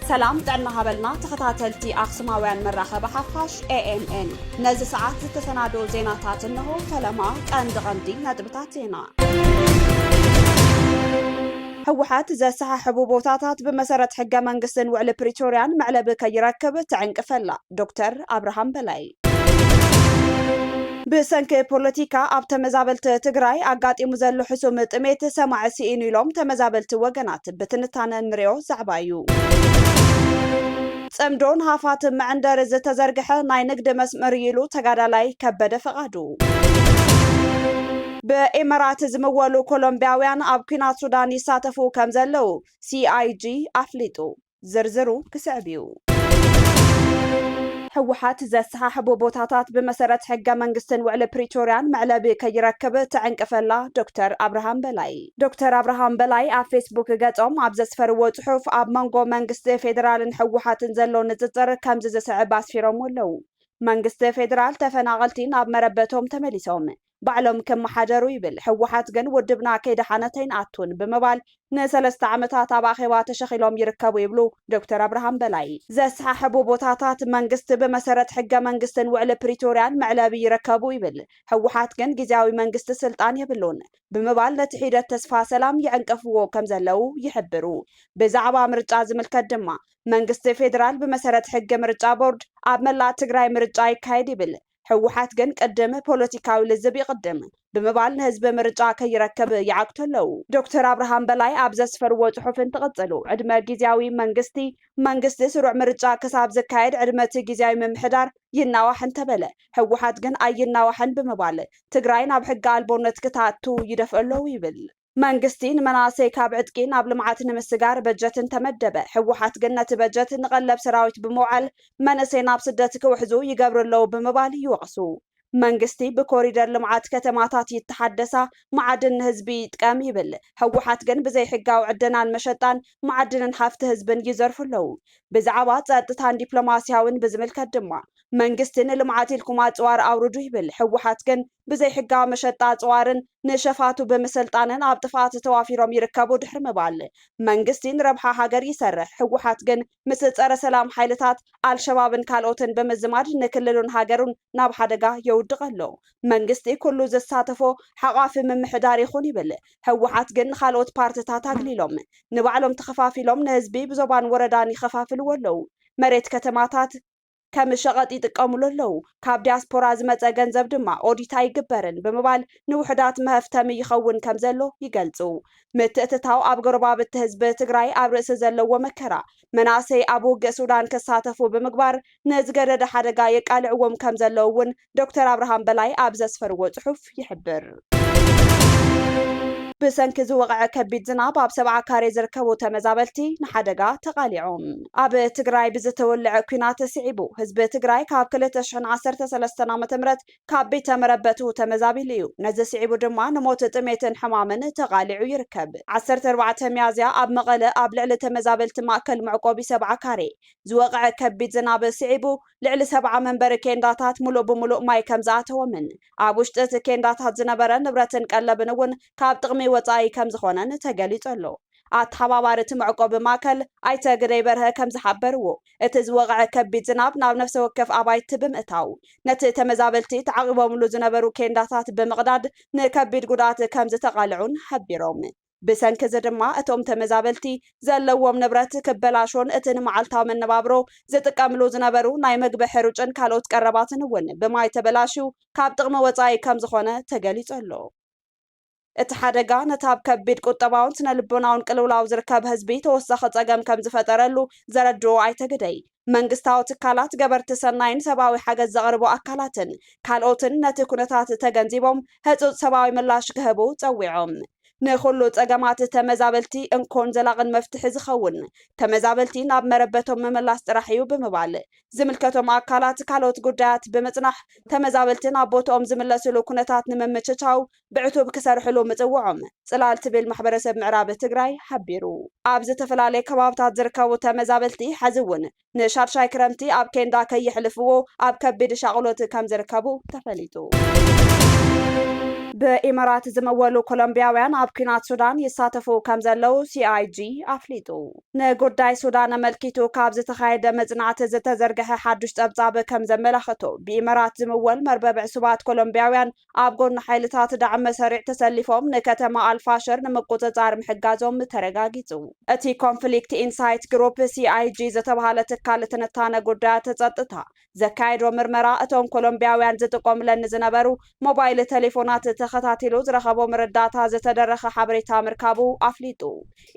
ሰላም ጥዕና ሃበልና ተኸታተልቲ ኣክሱማውያን መራኸቢ ሓፋሽ ኤኤምኤን ነዚ ሰዓት ዝተሰናደው ዜናታት እንሆ። ፈለማ ቀንዲ ቀንዲ ነጥብታት ዜና ህወሓት ዘሰሓሕቡ ቦታታት ብመሰረት ሕገ መንግስትን ውዕሊ ፕሪቶርያን መዕለቢ ከይረክብ ትዕንቅፍ ኣላ፣ ዶክተር ኣብርሃም በላይ። ብሰንኪ ፖለቲካ ኣብ ተመዛበልቲ ትግራይ ኣጋጢሙ ዘሎ ሕሱም ጥሜት ሰማዒ ስኢኑ ኢሎም ተመዛበልቲ ወገናት። ብትንታነ እንሪኦ ዛዕባ እዩ። ፅምዶ ንሃፋትም መዕንደሪ ዝተዘርግሐ ናይ ንግዲ መስመር እዩ ኢሉ ተጋዳላይ ከበደ ፍቓዱ። ብኢመራት ዝምወሉ ኮሎምብያውያን ኣብ ኲናት ሱዳን ይሳተፉ ከምዘለዉ ሲኣይጂ ኣፍሊጡ። ዝርዝሩ ክስዕብ እዩ። ህወሓት ዘሰሓሕቦ ቦታታት ብመሰረት ሕገ መንግስትን ውዕሊ ፕሪቶርያን መዕለቢ ከይረክብ ትዕንቅፈላ ዶክተር ኣብርሃም በላይ ዶክተር ኣብርሃም በላይ ኣብ ፌስቡክ ገፆም ኣብ ዘስፈርዎ ፅሑፍ ኣብ መንጎ መንግስቲ ፌዴራልን ህወሓትን ዘሎ ንፅፅር ከምዚ ዝስዕብ ኣስፊሮምዎ ኣለዉ። መንግስቲ ፌዴራል ተፈናቐልቲ ናብ መረበቶም ተመሊሶም ባዕሎም ክመሓደሩ ይብል። ህወሓት ግን ውድብና ከይደሓነት ኣይንኣቱን ብምባል ንሰለስተ ዓመታት ኣብ ኣኼባ ተሸኺሎም ይርከቡ ይብሉ ዶክተር ኣብርሃም በላይ። ዘሰሓሕቡ ቦታታት መንግስቲ ብመሰረት ሕገ መንግስትን ውዕሊ ፕሪቶርያን መዕለቢ ይረከቡ ይብል። ህወሓት ግን ግዝያዊ መንግስቲ ስልጣን የብሉን ብምባል ነቲ ሒደት ተስፋ ሰላም ይዕንቅፍዎ ከምዘለዉ ይሕብሩ። ብዛዕባ ምርጫ ዝምልከት ድማ መንግስቲ ፌደራል ብመሰረት ሕጊ ምርጫ ቦርድ ኣብ መላእ ትግራይ ምርጫ ይካየድ ይብል። ህወሓት ግን ቅድም ፖለቲካዊ ልዝብ ይቕድም ብምባል ንህዝቢ ምርጫ ከይረክብ ይዓግቱ ኣለዉ። ዶክተር ኣብርሃም በላይ ኣብ ዘስፈርዎ ፅሑፍ እንትቕፅሉ፣ ዕድመ ጊዚያዊ መንግስቲ፣ መንግስቲ ስሩዕ ምርጫ ክሳብ ዝካየድ ዕድመ እቲ ጊዚያዊ ምምሕዳር ይናዋሕ እንተበለ ህወሓት ግን ኣይናዋሕን ብምባል ትግራይ ናብ ሕገ ኣልቦነት ክተኣቱ ይደፍኡ ኣለዉ ይብል። መንግስቲ ንመናእሰይ ካብ ዕጥቂ ናብ ልምዓት ንምስጋር በጀት እንተመደበ፣ ህወሓት ግን ነቲ በጀት ንቐለብ ሰራዊት ብምውዓል መንእሰይ ናብ ስደት ክውሕዙ ይገብሩ ኣለዉ ብምባል ይወቕሱ። መንግስቲ ብኮሪደር ልምዓት ከተማታት ይተሓደሳ፣ መዓድን ንህዝቢ ይጥቀም ይብል፣ ህወሓት ግን ብዘይ ሕጋዊ ዕደናን መሸጣን መዓድንን ሃፍቲ ህዝብን ይዘርፉ ኣለዉ። ብዛዕባ ፀጥታን ዲፕሎማሲያዊን ብዝምልከት ድማ፣ መንግስቲ ንልምዓት ኢልኩም ኣፅዋር ኣውርዱ ይብል፣ ህወሓት ግን ብዘይ ሕጋዊ መሸጣ ኣፅዋርን ንሸፋቱ ብምስልጣንን ኣብ ጥፍኣት ተዋፊሮም ይርከቡ ድሕሪ ምባል መንግስቲ ንረብሓ ሃገር ይሰርሕ ህወሓት ግን ምስ ፀረ ሰላም ሓይልታት ኣልሸባብን ካልኦትን ብምዝማድ ንክልሉን ሃገሩን ናብ ሓደጋ የውድቕ ኣሎ። መንግስቲ ኩሉ ዘሳተፎ ሓቛፊ ምምሕዳር ይኹን ይብል፣ ህወሓት ግን ንኻልኦት ፓርትታት ኣግሊሎም ንባዕሎም ተኸፋፊሎም ንህዝቢ ብዞባን ወረዳን ይኸፋፍልዎ ኣለው። መሬት ከተማታት፣ ከም ሸቐጥ ይጥቀሙሉ ኣለዉ፣ ካብ ዲያስፖራ ዝመጸ ገንዘብ ድማ ኦዲት ኣይግበርን ብምባል ንውሑዳት መሀፍተሚ ይኸውን ከም ዘሎ ይገልጹ። ምትእትታው ኣብ ጎረባብቲ ህዝቢ ትግራይ ኣብ ርእሲ ዘለዎ መከራ፣ መናእሰይ ኣብ ውግእ ሱዳን ክሳተፉ ብምግባር ንዝገደደ ሓደጋ የቃልዕዎም ከም ዘለዉ እውን ዶክተር ኣብርሃም በላይ ኣብ ዘስፈርዎ ጽሑፍ ይሕብር። ብሰንኪ ዝወቕዐ ከቢድ ዝናብ ኣብ ሰብዓ ካሬ ዝርከቡ ተመዛበልቲ ንሓደጋ ተቓሊዖም። ኣብ ትግራይ ብዝተወልዐ ኲናት ስዒቡ ህዝቢ ትግራይ ካብ ክልተ ሽሕን ዓሰርተ ሰለስተን ዓመተ ምህረት ካብ ቤተ መረበቱ ተመዛቢሉ እዩ። ነዚ ስዒቡ ድማ ንሞት፣ ጥሜትን ሕማምን ተቓሊዑ ይርከብ። ዓሰርተ ኣርባዕተ ሚያዝያ ኣብ መቐለ ኣብ ልዕሊ ተመዛበልቲ ማእከል መዕቆቢ ሰብዓ ካሬ ዝወቕዐ ከቢድ ዝናብ ስዒቡ ልዕሊ ሰብዓ መንበሪ ኬንዳታት ምሉእ ብምሉእ ማይ ከም ዝኣተዎምን ኣብ ውሽጢ እቲ ኬንዳታት ዝነበረ ንብረትን ቀለብን እውን ካብ ጥቕሚ ወፃኢ ከም ዝኾነን ተገሊፁ ኣሎ። ኣተሓባባሪ እቲ መዕቆቢ ማእከል ኣይተ ግደይ በርሀ ከም ዝሓበርዎ፣ እቲ ዝወቕዐ ከቢድ ዝናብ ናብ ነፍሰ ወከፍ ኣባይቲ ብምእታው ነቲ ተመዛበልቲ ተዓቚቦምሉ ዝነበሩ ኬንዳታት ብምቕዳድ ንከቢድ ጉድኣት ከም ዝተቓልዑን ሓቢሮም። ብሰንኪ እዚ ድማ እቶም ተመዛበልቲ ዘለዎም ንብረት ክበላሾን እቲ ንመዓልታዊ መነባብሮ ዝጥቀምሉ ዝነበሩ ናይ መግቢ ሕሩጭን ካልኦት ቀረባትን እውን ብማይ ተበላሽዩ ካብ ጥቕሚ ወፃኢ ከምዝኾነ ተገሊፁ ኣሎ። እቲ ሓደጋ ነቲ ኣብ ከቢድ ቁጠባውን ስነ ልቦናውን ቅልውላው ዝርከብ ህዝቢ ተወሳኺ ፀገም ከምዝፈጠረሉ ዘረድኡ ኣይተ ግደይ፣ መንግስታዊ ትካላት፣ ገበርቲ ሰናይን ሰብኣዊ ሓገዝ ዘቕርቡ ኣካላትን ካልኦትን ነቲ ኩነታት ተገንዚቦም ህፁፅ ሰብኣዊ ምላሽ ክህቡ ፀዊዖም። ንኹሉ ፀገማት ተመዛበልቲ እንኮን ዘላቕን መፍትሒ ዝኸውን ተመዛበልቲ ናብ መረበቶም ምምላስ ጥራሕ እዩ ብምባል ዝምልከቶም ኣካላት ካልኦት ጉዳያት ብምፅናሕ ተመዛበልቲ ናብ ቦትኦም ዝምለስሉ ኩነታት ንምምችቻው ብዕቱብ ክሰርሕሉ ምፅውዖም ፅላል ትብል ማሕበረሰብ ምዕራብ ትግራይ ሓቢሩ። ኣብ ዝተፈላለየ ከባብታት ዝርከቡ ተመዛበልቲ ሐዚ እውን ንሻድሻይ ክረምቲ ኣብ ኬንዳ ከየሕልፍዎ ኣብ ከቢድ ሻቕሎት ከምዝርከቡ ተፈሊጡ። ብኢማራት ዝምወሉ ኮሎምቢያውያን ኣብ ኲናት ሱዳን ይሳተፉ ከምዘለዉ CIG ኣፍሊጡ። ንጉዳይ ሱዳን ኣመልኪቱ ካብ ዝተኻየደ መፅናዕቲ ዝተዘርገሐ ሓዱሽ ፀብፃብ ከምዘመላኽቶ ብኢማራት ዝምወል መርበብ ዕሱባት ኮሎምቢያውያን ኣብ ጎኒ ሓይልታት ዳዕመ ሰሪዕ ተሰሊፎም ንከተማ ኣልፋሸር ንምቁጽጻር ምሕጋዞም ተረጋጊጹ። እቲ ኮንፍሊክት ኢንሳይት ግሩፕ፣ CIG፣ ዝተብሃለ ትካል ትንታነ ጉዳያት ጸጥታ ዘካየዶ ምርመራ፣ እቶም ኮሎምብያውያን ዝጥቆምለን ንዝነበሩ ሞባይል ተሌፎናት ተኸታቲሉ ዝረኸቦ ምርዳእታ ዝተደረኸ ሓበሬታ ምርካቡ ኣፍሊጡ።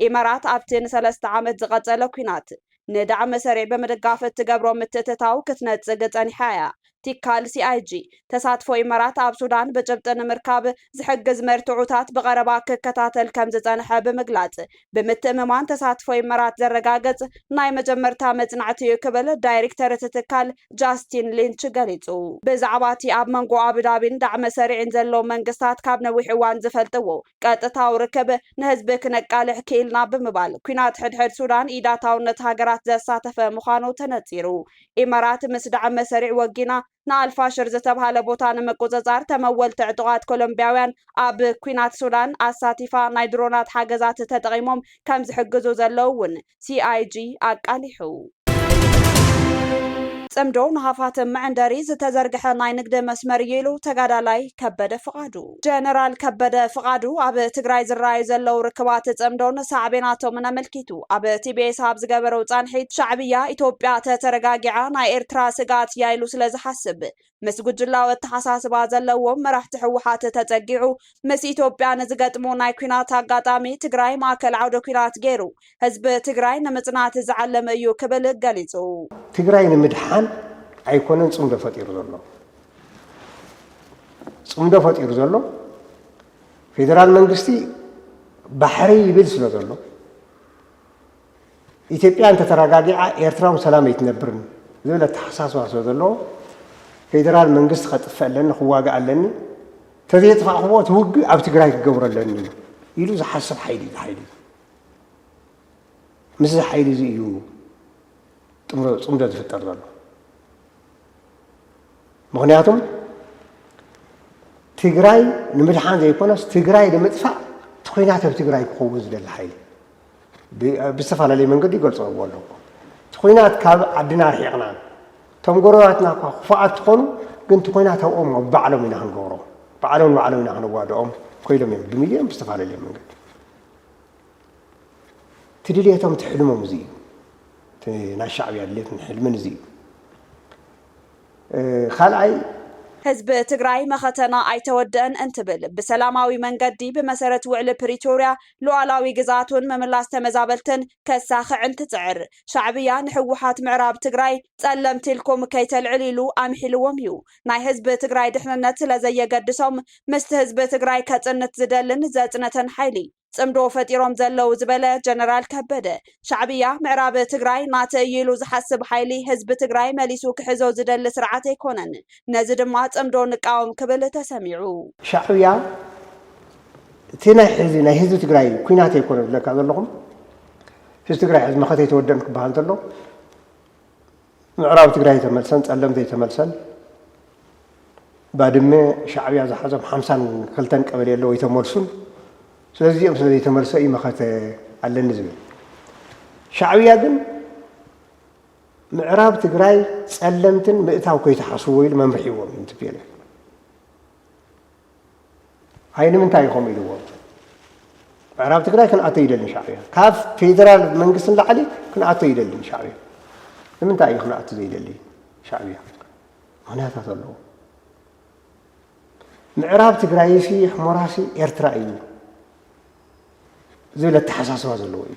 ኢመራት ኣብቲ ንሰለስተ ዓመት ዝቐጸለ ኲናት፣ ንዳዕም መሰሪዕ ብምድጋፍ እትገብሮ ምትእትታው ክትነጽግ ጸኒሓ እያ። ቲካል CIG፣ ተሳትፎ ኢመራት ኣብ ሱዳን ብጭብጢ ንምርካብ ዝሕግዝ መርትዖታት ብቐረባ ክከታተል ከምዝጸንሐ ብምግላጽ፣ ብምትእምማን ተሳትፎ ኢመራት ዘረጋግጽ ናይ መጀመርታ መጽናዕቲ እዩ ክብል ዳይሪክተር እቲ ትካል ጃስቲን ሊንች ገሊጹ። ብዛዕባ እቲ ኣብ መንጎ ኣቡዳቢን ዳዕም መሰሪዕን ዘሎ መንግስታት ካብ ነዊሕ እዋን ዝፈልጥዎ ቀጥታዊ ርክብ ንህዝቢ ክነቃልሕ ክኢልና ብምባል ኲናት ሕድሕድ ሱዳን ኢዳታውነት ሃገራት ዘሳተፈ ምዃኑ ተነጺሩ። ኢመራት ምስ ዳዕመ ሰሪዕ ወጊና ንኣልፋሽር ዝተብሃለ ቦታ ንምቁጽጻር ተመወልቲ ዕጡቓት ኮሎምብያውያን ኣብ ኲናት ሱዳን ኣሳቲፋ ናይ ድሮናት ሓገዛት ተጠቒሞም ከምዝሕግዙ ዘለው'ውን ሲኣይጂ ኣቃሊሑ። ፅምዶ ንሃፋትም መዕንደሪ ዝተዘርግሐ ናይ ንግዲ መስመር እዩ ኢሉ ተጋዳላይ ከበደ ፍቓዱ። ጀነራል ከበደ ፍቓዱ ኣብ ትግራይ ዝረኣዩ ዘለው ርክባት ፅምዶን ሳዕቤናቶምን ኣመልኪቱ ኣብ ቲቢኤስ ኣብ ዝገበረው ፃንሒት ሻዕብያ ኢትዮጵያ ተተረጋጊዓ ናይ ኤርትራ ስግኣት እያ ኢሉ ስለዝሓስብ ምስ ጉጅላዊ ኣተሓሳስባ ዘለዎም መራሕቲ ህወሓት ተፀጊዑ ምስ ኢትዮጵያ ንዝገጥሞ ናይ ኩናት ኣጋጣሚ ትግራይ ማእከል ዓውደ ኩናት ገይሩ ህዝቢ ትግራይ ንምፅናት ዝዓለመ እዩ ክብል ገሊፁ። ትግራይ ንምድሓን ኣይኮነን ፅምዶ ፈጢሩ ዘሎ ፅምዶ ፈጢሩ ዘሎ ፌዴራል መንግስቲ ባሕሪ ይብል ስለ ዘሎ ኢትዮጵያ እንተተረጋጊዓ ኤርትራ ውን ሰላም ኣይትነብርን ዝብል ኣተሓሳስባ ስለ ዘለዎ ፌደራል መንግስቲ ከጥፍእ ኣለኒ ክዋጋእ ኣለኒ ተዘየጥፋእክዎ እቲ ውግእ ኣብ ትግራይ ክገብሮ ኣለኒ ኢሉ ዝሓስብ ሓይሊ እዩ ሓይሊ ምስዚ ሓይሊ እዚ እዩ ፅምዶ ዝፍጠር ዘሎ ምክንያቱም ትግራይ ንምድሓን ዘይኮነስ ትግራይ ንምጥፋእ ትኩናት ኣብ ትግራይ ክኸውን ዝደሊ ሓይሊ ብዝተፈላለየ መንገዲ ይገልፅዎ ኣለዎ። እቲ ኩናት ካብ ዓድና ኣርሒቕና እቶም ጎረባትና እኳ ክፉኣት ትኾኑ ግን እቲ ኩናት ኣብኦም ኣብ ባዕሎም ኢና ክንገብሮ ባዕሎም ንባዕሎም ኢና ክንዋድኦም ኮይሎም እዮም ብሚልዮን ብዝተፈላለየ መንገዲ እቲ ድልየቶም እቲ ሕልሞም እዚ እዩ እቲ ናይ ሻዕብያ ድልየትን ሕልምን እዚ እዩ ካልኣይ ህዝቢ ትግራይ መኸተና ኣይተወደአን እንትብል ብሰላማዊ መንገዲ ብመሰረት ውዕሊ ፕሪቶርያ ሉኣላዊ ግዝኣቱን ምምላስ ተመዛበልትን ከሳኽዕን ትጽዕር። ሻዕብያ ንሕወሓት ምዕራብ ትግራይ ጸለምቲ ኢልኩም ከይተልዕሉ ኢሉ ኣምሒልዎም እዩ። ናይ ህዝቢ ትግራይ ድሕንነት ስለዘየገድሶም ምስቲ ህዝቢ ትግራይ ከጽንት ዝደልን ዘጽነተን ሓይሊ ጽምዶ ፈጢሮም ዘለው ዝበለ ጀነራል ከበደ፣ ሻዕብያ ምዕራብ ትግራይ ናተይ እዩ ኢሉ ዝሓስብ ሓይሊ ህዝቢ ትግራይ መሊሱ ክሕዞ ዝደሊ ስርዓት ኣይኮነን። ነዚ ድማ ጽምዶ ንቃወም ክብል ተሰሚዑ። ሻዕብያ እቲ ናይ ሕዚ ናይ ህዝቢ ትግራይ ኩናት ኣይኮነ ዝብለካ ዘለኹም ህዝቢ ትግራይ ሕዚ መኸተ ኣይተወደን ክበሃል እንተሎ ምዕራብ ትግራይ ተመልሰን ፀለም ዘይተመልሰን ባድመ ሻዕብያ ዝሓዞም ሓምሳን ክልተን ቀበሌ ኣለዎ ይተመልሱን ስለዚ እዚኦም ስለ ዘይተመልሰ እዩ መኸተ ኣለኒ ዝብል ሻዕብያ ግን ምዕራብ ትግራይ ፀለምትን ምእታው ከይተሓስዎ ኢሉ መምርሒዎም እዩ ትቤለ ኣይ ንምንታይ እዩ ከምኡ ኢልዎ? ምዕራብ ትግራይ ክንኣቶ ይደልን ሻዕብያ ካብ ፌደራል መንግስቲ ንላዕሊ ክንኣቶ ይደልን ሻዕብያ ንምንታይ እዩ ክንኣቶ ዘይደሊ ሻዕብያ ምክንያታት ኣለዎ። ምዕራብ ትግራይሲ ሕሞራሲ ኤርትራ እዩ ዝብል ኣተሓሳስባ ዘለዎ እዩ።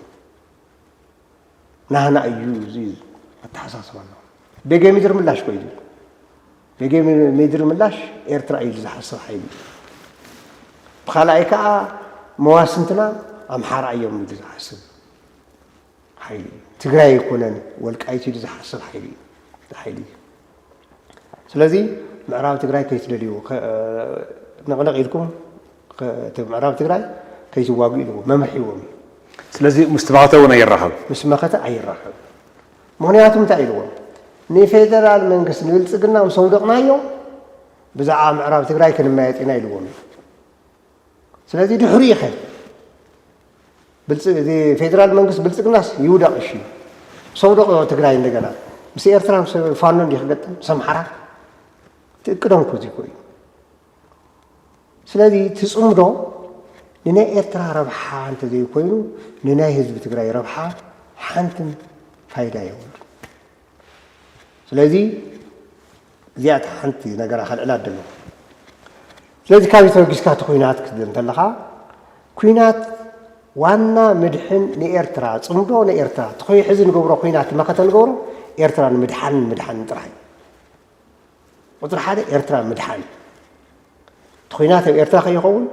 ናህና እዩ እዚ ኣተሓሳስባ ኣሎ ቤጌ ምድሪ ምላሽ ኮ እዩ ቤጌ ምድሪ ምላሽ ኤርትራ እዩ ዝሓስብ ሓይሊ ብካልኣይ ከዓ መዋስንትና ኣምሓራ እዮም ምድሪ ዝሓስብ ሓይሊ ትግራይ ኣይኮነን ወልቃይት ኢሉ ዝሓስብ ሓይሊ እዩ ሓይሊ እዩ ስለዚ ምዕራብ ትግራይ ከይትደልዩ ነቕነቕ ኢልኩም ምዕራብ ትግራይ ከይትዋግኡ ኢልዎ መምርሒ ሂቦም እዩ። ስለዚ ምስ መኸተ እውን ኣይራኸብ ምስ መኸተ ኣይራኸብ ምክንያቱ እንታይ ኢልዎ ንፌደራል መንግስቲ ንብልፅግና ምስ ኣውደቕናዮ ብዛዕባ ምዕራብ ትግራይ ክንመያየጥ ኢና ኢልዎም እዩ። ስለዚ ድሕሪኸ ፌደራል መንግስት ብልፅግናስ ይውደቕ እሺ ሰውደቕ ትግራይ እንደገና ምስ ኤርትራ ምስ ፋኖ እንዲ ክገጥም ምስ ኣምሓራ ትእቅዶም እኮ እዚኮ እዩ ስለዚ ትፅምዶ ንናይ ኤርትራ ረብሓ እንተዘይኮይኑ ንናይ ህዝቢ ትግራይ ረብሓ ሓንትን ፋይዳ የብሉ ስለዚ እዚኣ እታ ሓንቲ ነገራ ከልዕላ ዝደለኹ። ስለዚ ካብዚ ተበጊስካ እቲ ኲናት ክትብል እንተለኻ ኲናት ዋና ምድሕን ንኤርትራ ጽምዶ ንኤርትራ እቲ ኮይ ሕዚ ንገብሮ ኲናት መኸተ ንገብሮ ኤርትራ ንምድሓንን ምድሓንን ጥራሕ እዩ። ቁፅሪ ሓደ ኤርትራ ምድሓን እቲ ኩናት ኣብ ኤርትራ ከይኸውን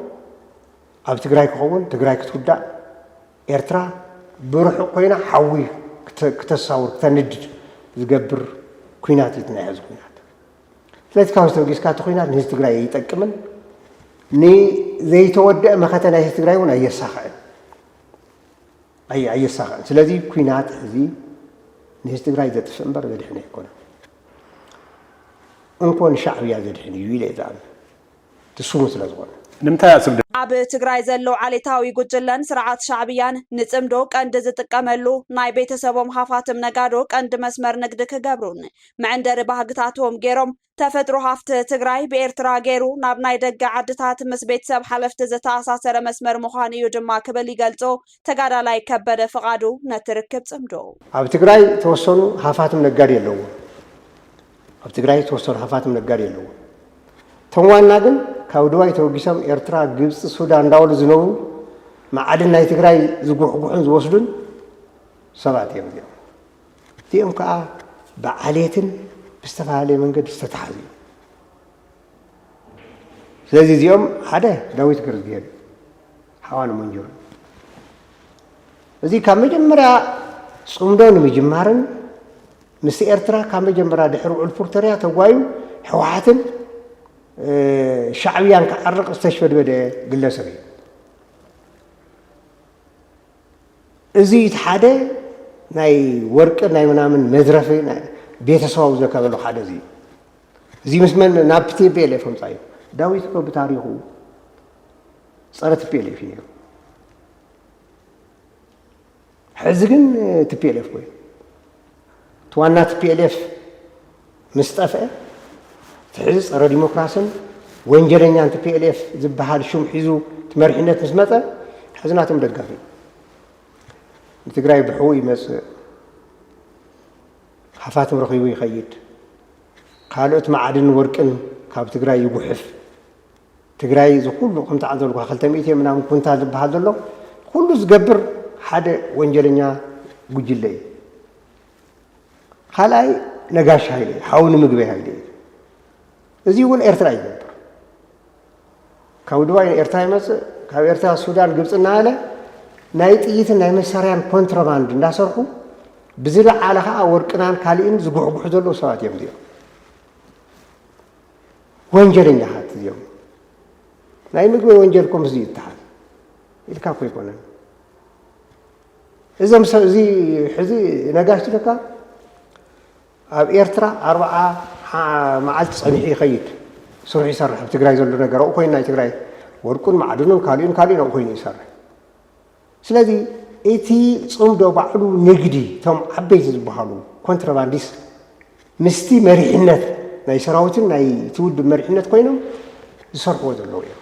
ኣብ ትግራይ ክኸውን ትግራይ ክትውዳእ ኤርትራ ብርሑቕ ኮይና ሓዊ ክተሳውር ክተንድድ ዝገብር ኩናት እዩ እቲ ናይ ሕዚ ኩናት። ስለዚ ካብዚ ተበጊስካ እቲ ኩናት ንህዝቢ ትግራይ ኣይጠቅምን፣ ንዘይተወደአ መኸተ ናይ ህዝቢ ትግራይ እውን ኣየሳኽዕን ኣየሳኽዕን። ስለዚ ኩናት ሕዚ ንህዝቢ ትግራይ ዘጥፍእ እምበር ዘድሕነ ኣይኮነን። እንኮ ንሻዕብያ ዘድሕን እዩ ኢለ እየ ዝኣምን። ድሱሙን ስለ ዝኾነ። ንምንታይ ኣብ ስግደት? ኣብ ትግራይ ዘሎ ዓሌታዊ ጉጅለን ስርዓት ሻዕብያን ንጽምዶ ቀንዲ ዝጥቀመሉ ናይ ቤተሰቦም ሃፋትም ነጋዶ ቀንዲ መስመር ንግዲ ክገብሩን መዕንደሪ ባህግታቶም ገይሮም ተፈጥሮ ሃፍቲ ትግራይ ብኤርትራ ገይሩ ናብ ናይ ደገ ዓድታት ምስ ቤተሰብ ሓለፍቲ ዝተኣሳሰረ መስመር ምዃኑ እዩ ድማ ክብል ይገልጾ ተጋዳላይ ከበደ ፍቓዱ ነቲ ርክብ ጽምዶ። ኣብ ትግራይ ተወሰኑ ሃፋትም ነጋዴ ኣለዉዎ። ኣብ ትግራይ ዝተወሰኑ ሃፋትም ነጋዴ ኣለዉ። እቶም ዋና ግን ካብ ድባይ ተበጊሶም ኤርትራ፣ ግብፂ፣ ሱዳን እንዳበሉ ዝነብሩ መዓድን ናይ ትግራይ ዝጉሕጉሑን ዝወስዱን ሰባት እዮም እዚኦም። እዚኦም ከዓ ብዓሌትን ብዝተፈላለየ መንገዲ ዝተተሓዙ እዮም። ስለዚ እዚኦም ሓደ ዳዊት ገርዝጊሄር እዩ። ሓዋን ሞንጆሪ እዚ ካብ መጀመርያ ፅምዶ ንምጅማርን ምስ ኤርትራ ካብ መጀመርያ ድሕሪ ውዕል ፕሪቶርያ ተጓዩ ሕወሓትን ሻዕብያን ክዓርቕ ዝተሽበድበደ ግለሰብ እዩ እዚ እቲ ሓደ ናይ ወርቂ ናይ ምናምን መዝረፊ ቤተሰባዊ ዘከበሉ ሓደ እዚ እዚ ምስ መን ናብ ቴቤል የፈምፃ እዩ ዳዊት እኮ ብታሪኹ ፀረ ትፒኤልኤፍ እዩ ነይሩ። ሕዚ ግን ትፒኤልኤፍ ኮይኑ እቲ ዋና ትፒኤልኤፍ ምስ ጠፍአ እቲ ሕዚ ፀረ ዲሞክራስን ወንጀለኛን ትፒኤልኤፍ ዝበሃል ሹም ሒዙ እቲ መሪሕነት ምስ መፀ ሕዚ ናቶም ደጋፊ ንትግራይ ብሕው ይመፅእ ሃፋትም ረኺቡ ይኸይድ ካልኦት ማዕድን ወርቅን ካብ ትግራይ ይጉሕፍ ትግራይ እዚ ኩሉ ከም ተዓዘብልኩኻ ክልተ ሚእቲ ምናምን ኩንታል ዝበሃል ዘሎ ኩሉ ዝገብር ሓደ ወንጀለኛ ጉጅለ እዩ። ካልኣይ ነጋሽ ሃይለ እዩ፣ ሓው ንምግበይ ሃይለ እዩ። እዚ እውን ኤርትራ ይገብር ካብ ድባይ ኤርትራ ይመፅእ ካብ ኤርትራ ሱዳን ግብፂ እናበለ ናይ ጥይትን ናይ መሳርያን ኮንትሮባንድ እንዳሰርሑ ብዝለዓለ ከዓ ወርቅናን ካሊእን ዝጉሕጉሑ ዘለዉ ሰባት እዮም እዚኦም ወንጀለኛታት እዚኦም ናይ ምግቢ ወንጀል ኮምስ እዩ ይተሃል ኢልካ እኮ ይኮነን እዞም ሰብ እዚ ሕዚ ነጋሽ ትለካ ኣብ ኤርትራ ኣርብዓ መዓልቲ ፀኒሑ ይኸይድ ስሩሕ ይሰርሕ ኣብ ትግራይ ዘሎ ነገር ኣብኡ ኮይኑ ናይ ትግራይ ወርቁን ማዕድኑን ካልኡን ካልኡን ኣብኡ ኮይኑ ይሰርሕ ስለዚ እቲ ጽምዶ ባዕሉ ንግዲ እቶም ዓበይቲ ዝበሃሉ ኮንትረባንዲስት ምስቲ መሪሕነት ናይ ሰራዊትን ናይ እቲ ውድብ መሪሕነት ኮይኖም ዝሰርሕዎ ዘለዉ እዮም።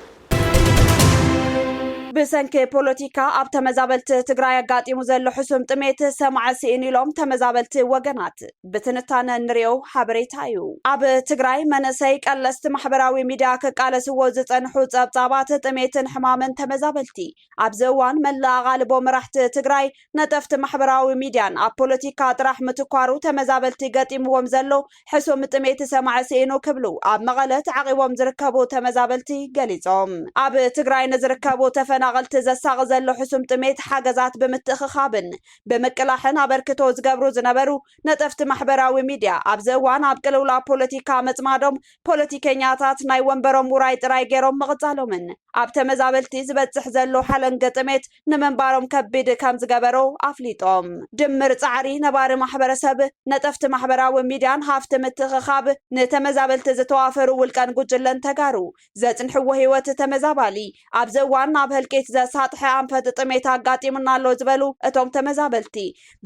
ብሰንኪ ፖለቲካ ኣብ ተመዛበልቲ ትግራይ ኣጋጢሙ ዘሎ ሕሱም ጥሜት ሰማዒ ስኢኑ ኢሎም ተመዛበልቲ ወገናት። ብትንታነ እንሪኦ ሓበሬታ እዩ። ኣብ ትግራይ መንእሰይ ቀለስቲ ማሕበራዊ ሚድያ ክቃለስዎ ዝፀንሑ ፀብፃባት ጥሜትን ሕማምን ተመዛበልቲ ኣብዚ እዋን መላእ ኣቓልቦ መራሕቲ ትግራይ ነጠፍቲ ማሕበራዊ ሚድያን ኣብ ፖለቲካ ጥራሕ ምትኳሩ ተመዛበልቲ ገጢምዎም ዘሎ ሕሱም ጥሜት ሰማዒ ስኢኑ ክብሉ ኣብ መቐለ ተዓቚቦም ዝርከቡ ተመዛበልቲ ገሊፆም። ኣብ ትግራይ ንዝርከቡ ተፈናቐልቲ ዘሳቒ ዘሎ ሕሱም ጥሜት ሓገዛት ብምትእኽኻብን ብምቅላሕን ኣበርክቶ ዝገብሩ ዝነበሩ ነጠፍቲ ማሕበራዊ ሚድያ ኣብዚ እዋን ኣብ ቅልውላው ፖለቲካ ምፅማዶም ፖለቲከኛታት ናይ ወንበሮም ውራይ ጥራይ ገይሮም ምቕፃሎምን ኣብ ተመዛበልቲ ዝበፅሕ ዘሎ ሓለንገ ጥሜት ንምንባሮም ከቢድ ከምዝገበሮ ኣፍሊጦም። ድምር ፃዕሪ ነባሪ ማሕበረሰብ ነጠፍቲ ማሕበራዊ ሚድያን ሃፍቲ ምትእኽኻብ ንተመዛበልቲ ዝተዋፈሩ ውልቀን ጉጅለን ተጋሩ ዘጽንሕዎ ህይወት ተመዛባሊ ኣብዚ እዋን ናብ ህልቂት ዘሳጥሐ ኣንፈት ጥሜት ኣጋጢሙና ኣሎ ዝበሉ እቶም ተመዛበልቲ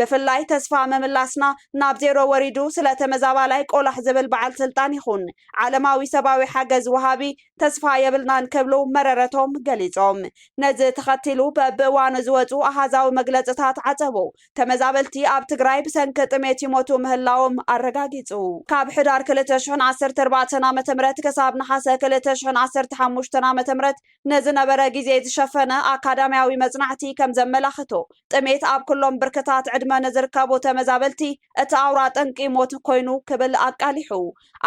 ብፍላይ ተስፋ ምምላስና ናብ ዜሮ ወሪዱ ስለ ተመዛባላይ ቆላሕ ዝብል በዓል ስልጣን ይኹን ዓለማዊ ሰብኣዊ ሓገዝ ወሃቢ ተስፋ የብልናን ክብሉ መረረቶም ገሊጾም። ነዚ ተኸቲሉ በብእዋኑ ዝወጹ ኣሃዛዊ መግለጽታት ዓጸቦ ተመዛበልቲ ኣብ ትግራይ ብሰንኪ ጥሜት ይሞቱ ምህላዎም ኣረጋጊጹ። ካብ ሕዳር ክልተ ሽሕን ዓሰርተ ኣርባዕተን ዓመተ ምህረት ክሳብ ነሓሰ ክልተ ሽሕን ዓሰርተ ሓሙሽተን ዓመተ ምህረት ንዝነበረ ግዜ ዝሸፈነ ኣካዳምያዊ መጽናዕቲ ከም ዘመላኽቶ፣ ጥሜት ኣብ ኩሎም ብርክታት ዕድመ ንዝርከቡ ተመዛበልቲ እቲ ኣውራ ጠንቂ ሞት ኮይኑ ክብል ኣቃሊሑ።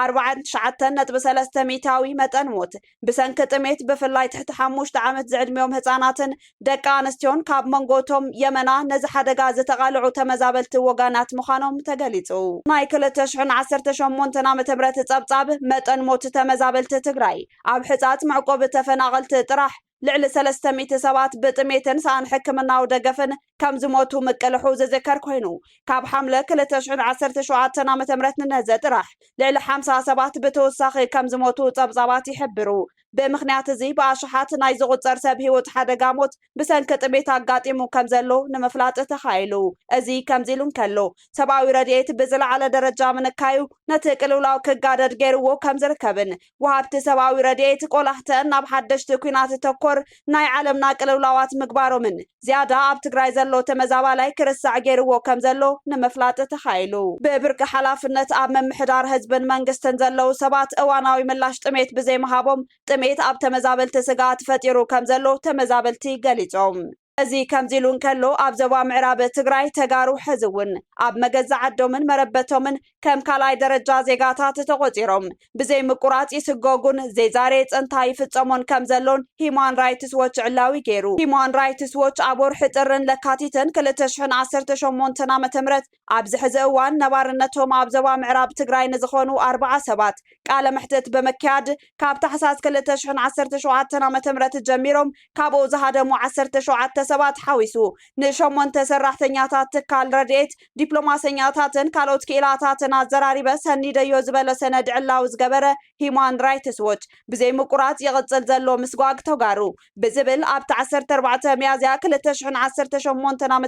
ኣርባዓን ትሽዓተን ነጥቢ ሰለስተ ሚእታዊ መጠን ሞት፣ ብሰንኪ ጥሜት ብፍላይ ትሕቲ ሓሙሽተ ዓመት ዝዕድሚኦም ህጻናትን ደቂ ኣንስትዮን ካብ መንጎ እቶም የመና ነዚ ሓደጋ ዝተቓልዑ ተመዛበልቲ ወጋናት ምዃኖም ተገሊጹ። ናይ ክልተ ሽሕን ዓሰርተ ሸሞንተን ዓመተ ምህረት ጸብጻብ መጠን ሞት ተመዛበልቲ ትግራይ ኣብ ሕጻጽ መዕቆቢ ተፈናቐልቲ ጥራሕ ልዕሊ ሰለስተ ሚእቲ ሰባት ብጥሜትን ሰኣን ሕክምናዊ ደገፍን ከም ዝሞቱ ምቅልሑ ዝዝከር ኮይኑ፣ ካብ ሓምለ ክልተ ሽሕን ዓሰርተ ሸውዓተን ዓመተ ምህረት ንነዘ ጥራሕ ልዕሊ ሓምሳ ሰባት ብተወሳኺ ከም ዝሞቱ ጸብጻባት ይሕብሩ። ብምኽንያት እዚ ብኣሽሓት ናይ ዝቑጸር ሰብ ህይወት ሓደጋ ሞት ብሰንኪ ጥሜት ኣጋጢሙ ከም ዘሎ ንምፍላጥ ተኻኢሉ። እዚ ከምዚ ኢሉ እንከሎ፣ ሰብኣዊ ረድኤት ብዝለዓለ ደረጃ ምንካዩ ነቲ ቅልውላው ክጋደድ ገይርዎ ከም ዝርከብን ወሃብቲ ሰብኣዊ ረድኤት ቆላሕተን ናብ ሓደሽቲ ኲናት ተኮር ናይ ዓለምና ቅልውላዋት ምግባሮምን ዝያዳ ኣብ ትግራይ ዘሎ ተመዛባላይ ክርሳዕ ገይርዎ ከም ዘሎ ንምፍላጥ ተኻኢሉ። ብብርኪ ሓላፍነት ኣብ ምምሕዳር ህዝብን መንግስትን ዘለዉ ሰባት እዋናዊ ምላሽ ጥሜት ብዘይምሃቦም ጥሜት ኣብ ተመዛበልቲ ስግኣት ፈጢሩ ከም ዘሎ ተመዛበልቲ ገሊፆም። እዚ ከምዚሉ እንከሎ ኣብ ዞባ ምዕራብ ትግራይ ተጋሩ ሕዚ እውን ኣብ መገዛእ ዓዶምን መረበቶምን ከም ካልኣይ ደረጃ ዜጋታት ተቖፂሮም ብዘይ ምቁራፅ ይስጎጉን ዜዛሬ ፅንታ ይፍፀሞን ከም ዘሎን ሂማን ራይትስ ዎች ዕላዊ ገይሩ። ሂማን ራይትስ ዎች ኣብ ወርሒ ጥርን ለካቲትን ክልተ ሽሕን ዓሰርተ ሸሞንተን ዓ.ም ኣብዚ ሕዚ እዋን ነባርነቶም ኣብ ዞባ ምዕራብ ትግራይ ንዝኾኑ ኣርባዓ ሰባት ቃለ መሕትት ብምክያድ ካብ ታሕሳስ ክልተ ሽሕን ዓሰርተ ሸውዓተን ዓመተ ምህረት ጀሚሮም ካብኡ ዝሃደሙ ዓሰርተ ሸውዓተ ሰባት ሓዊሱ ንሸሞንተ ሰራሕተኛታት ትካል ረድኤት፣ ዲፕሎማሰኛታትን ካልኦት ክኢላታትን ኣዘራሪበ ሰኒደዮ ዝበለ ሰነድ ዕላዊ ዝገበረ ሂዩማን ራይትስ ዎች ብዘይምቁራፅ ይቕፅል ዘሎ ምስጓግ ተጋሩ ብዝብል ኣብቲ ዓሰርተ ኣርባዕተ ሚያዝያ ክልተ ሽሕን ዓሰርተ ሸሞንተን ዓ ም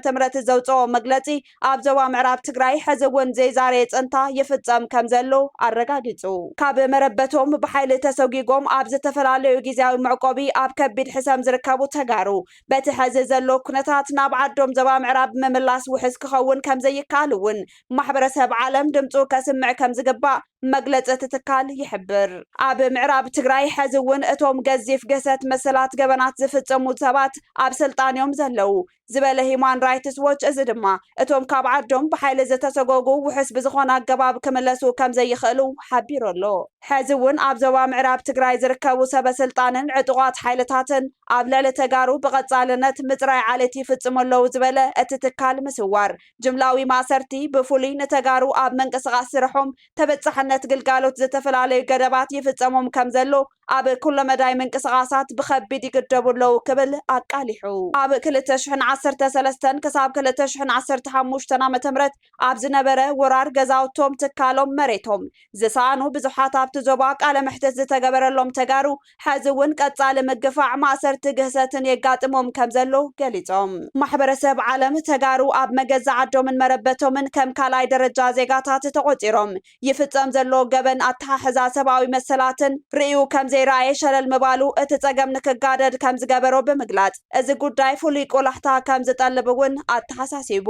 ዘውጽኦ መግለጺ ኣብ ዞባ ምዕራብ ትግራይ ሕዚ እውን ዘይዛረየ ጸንታ ይፍጸም ከምዘሎ ኣረጋጊጹ። ካብ መረበቶም ብሓይሊ ተሰጒጎም ኣብ ዝተፈላለዩ ጊዚያዊ መዕቆቢ ኣብ ከቢድ ሕሰም ዝርከቡ ተጋሩ በቲ ሕዚ ዘሎ ኩነታት ናብ ዓዶም ዞባ ምዕራብ ምምላስ ውሕስ ክኸውን ከምዘይከኣል እውን ማሕበረሰብ ዓለም ድምጹ ከስምዕ ከምዝግባእ መግለፂ እቲ ትካል ይሕብር። ኣብ ምዕራብ ትግራይ ሐዚ እውን እቶም ገዚፍ ግህሰት መሰላት ገበናት ዝፍፅሙ ሰባት ኣብ ስልጣን እዮም ዘለዉ ዝበለ ሂዩማን ራይትስ ዎች እዚ ድማ እቶም ካብ ዓዶም ብሓይሊ ዝተሰጎጉ ውሑስ ብዝኾነ ኣገባብ ክምለሱ ከምዘይኽእሉ ሓቢሩ ኣሎ። ሐዚ እውን ኣብ ዞባ ምዕራብ ትግራይ ዝርከቡ ሰበ ስልጣንን ዕጡቓት ሓይልታትን ኣብ ልዕሊ ተጋሩ ብቐፃልነት ምፅራይ ዓሌት ይፍፅሙ ኣለዉ ዝበለ እቲ ትካል ምስዋር ጅምላዊ ማእሰርቲ ብፍሉይ ንተጋሩ ኣብ ምንቅስቓስ ስርሖም ተበፃሕነት ግልጋሎት ዝተፈላለዩ ገደባት ይፍፀሞም ከምዘሎ ኣብ ኩለመዳይ ምንቅስቓሳት ብኸቢድ ይግደቡ ኣለዉ ክብል ኣቃሊሑ። ኣብ ክልተ ሽሕን ዓሰርተ ሰለስተን ክሳብ ክልተ ሽሕን ዓሰርተ ሓሙሽተን ዓመተ ምህረት ኣብ ዝነበረ ወራር ገዛውቶም፣ ትካሎም፣ መሬቶም ዝሰኣኑ ብዙሓት ኣብቲ ዞባ ቃለ መሕትት ዝተገበረሎም ተጋሩ ሐዚ እውን ቀፃሊ ምግፋዕ፣ ማእሰርቲ፣ ግህሰትን የጋጥሞም ከምዘሎ ገሊፆም። ማሕበረሰብ ዓለም ተጋሩ ኣብ መገዛእ ዓዶምን መረበቶምን ከም ካልኣይ ደረጃ ዜጋታት ተቖፂሮም ይፍፀም ዘሎ ገበን ኣተሓሕዛ ሰብኣዊ መሰላትን ርእዩ ከምዘይረኣየ ሸለል ምባሉ እቲ ፀገም ንክጋደድ ከምዝገበሮ ብምግላፅ እዚ ጉዳይ ፍሉይ ቆላሕታ ከምዝጠልብ እውን ኣተሓሳሲቡ።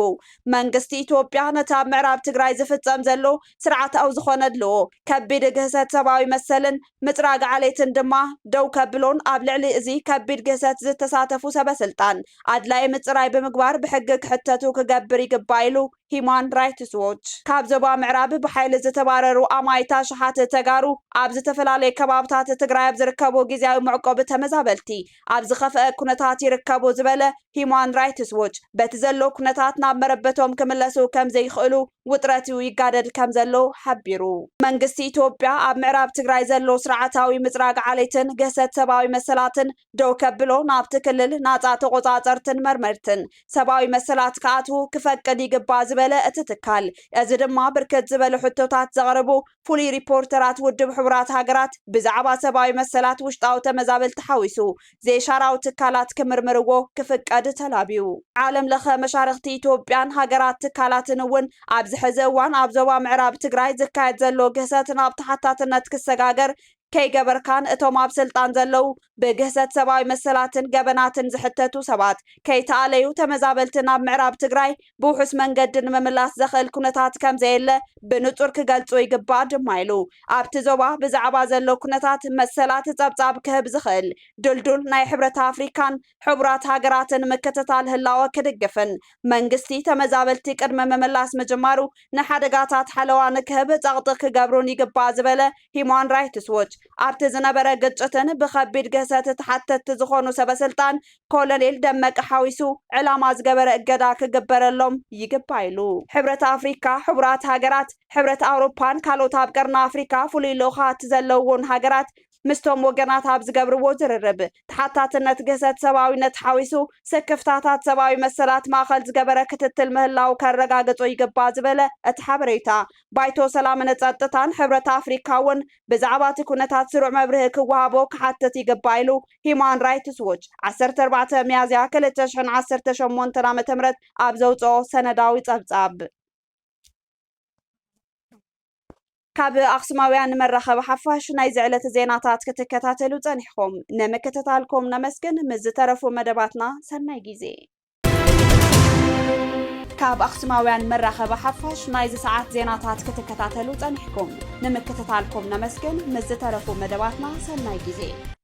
መንግስቲ ኢትዮጵያ ነቲ ኣብ ምዕራብ ትግራይ ዝፍፀም ዘሎ ስርዓታዊ ዝኾነ ኣድልዎ፣ ከቢድ ግህሰት ሰብኣዊ መሰልን፣ ምጽራግ ዓሌትን ድማ ደው ከብሎን ኣብ ልዕሊ እዚ ከቢድ ግህሰት ዝተሳተፉ ሰበ ስልጣን ኣድላዪ ምጽራይ ብምግባር ብሕጊ ክሕተቱ ክገብር ይግባእ ኢሉ ሂዩማን ራይትስ ዎች። ካብ ዞባ ምዕራብ ብሓይሊ ዝተባረሩ ኣማኢት ኣሽሓት ተጋሩ ኣብ ዝተፈላለዩ ከባብታት ትግራይ ኣብ ዝርከቡ ግዝያዊ መዕቆቢ ተመዛበልቲ ኣብ ዝኸፈኣ ኩነታት ይርከቡ ዝበለ ሂዩማን ራይትስ ዎች በቲ ዘሎ ኩነታት ናብ መረበቶም ክምለሱ ከምዘይኽእሉ ውጥረት'ዩ ይጋደል ከምዘሎ ሓቢሩ። መንግስቲ ኢትዮጵያ ኣብ ምዕራብ ትግራይ ዘሎ ስርዓታዊ ምፅራግ ዓሌትን ግህሰት ሰብኣዊ መሰላትን ደው ከብሎ፣ ናብቲ ክልል ናፃ ተቖፃፀርትን መርመርትን ሰብኣዊ መሰላት ክኣትዉ ክፈቅድ ይግባእ ዝበለ እቲ ትካል፣ እዚ ድማ ብርክት ዝበሉ ሕቶታት ዘቕርቡ ፍሉይ ሪፖርተራት ውድብ ሕቡራት ሃገራት ብዛዕባ ሰብኣዊ መሰላት ውሽጣዊ ተመዛበልቲ ሓዊሱ ዘይሻራዊ ትካላት ክምርምርዎ ክፍቀድ ተላብዩ። ዓለም ለኸ መሻርኽቲ ኢትዮጵያን ሃገራት ትካላትን እውን ኣብዚ ሕዚ እዋን ኣብ ዞባ ምዕራብ ትግራይ ዝካየድ ዘሎ ግህሰት ናብ ተሓታትነት ክሰጋገር ከይገበርካን እቶም ኣብ ስልጣን ዘለዉ ብግህሰት ሰብኣዊ መሰላትን ገበናትን ዝሕተቱ ሰባት ከይተኣለዩ ተመዛበልቲ ናብ ምዕራብ ትግራይ ብውሑስ መንገዲ ንምምላስ ዘኽእል ኩነታት ከምዘየለ ብንፁር ክገልፁ ይግባእ ድማ ኢሉ። ኣብቲ ዞባ ብዛዕባ ዘሎ ኩነታት መሰላት ፀብፃብ ክህብ ዝኽእል ድልዱል ናይ ሕብረት ኣፍሪካን ሕቡራት ሃገራትን ምክትታል ህላወ ክድግፍን መንግስቲ ተመዛበልቲ ቅድመ ምምላስ ምጅማሩ ንሓደጋታት ሓለዋ ንክህብ ጸቕጢ ክገብሩን ይግባእ ዝበለ ሂዩማን ራይትስ ዎች፣ ኣብቲ ዝነበረ ግጭትን ብኸቢድ ግህሰት ተሓተትቲ ዝኾኑ ሰበስልጣን ኮሎኔል ደመቀ ሓዊሱ ዕላማ ዝገበረ እገዳ ክግበረሎም ይግባእ ኢሉ። ሕብረት ኣፍሪካ፣ ሕቡራት ሃገራት፣ ሕብረት ኣውሮፓን ካልኦት ኣብ ቀርኒ ኣፍሪካ ፍሉይ ልኡኻት ዘለውዎን ሃገራት ምስቶም ወገናት ኣብ ዝገብርዎ ዝርርብ፣ ተሓታትነት ግህሰት ሰብኣዊነት ሓዊሱ ስክፍታታት ሰብኣዊ መሰላት ማእኸል ዝገበረ ክትትል ምህላዉ ከረጋግፁ ይግባእ ዝበለ እቲ ሓበሬታ፣ ባይቶ ሰላምን ፀጥታን ሕብረት ኣፍሪካ እውን ብዛዕባ እቲ ኩነታት ስሩዕ መብርሂ ክወሃቦ ክሓትት ይግባእ ኢሉ ሂዩማን ራይትስ ዎች ዓሰርተ ኣርባዕተ ሚያዝያ ክልተ ሽሕን ዓሰርተ ሸሞንተን ዓ ም ኣብ ዘውፅኦ ሰነዳዊ ፀብፃብ። ካብ ኣክሱማውያን መራኸቢ ሓፋሽ ናይዚ ዕለት ዜናታት ክትከታተሉ ጸኒሕኹም ንምክትታልኩም ነመስግን። ምስ ዝተረፉ መደባትና ሰናይ ግዜ። ካብ ኣክሱማውያን መራኸቢ ሓፋሽ ናይዚ ሰዓት ዜናታት ክትከታተሉ ጸኒሕኩም ንምክትታልኩም ነመስግን። ምስ ዝተረፉ መደባትና ሰናይ ግዜ።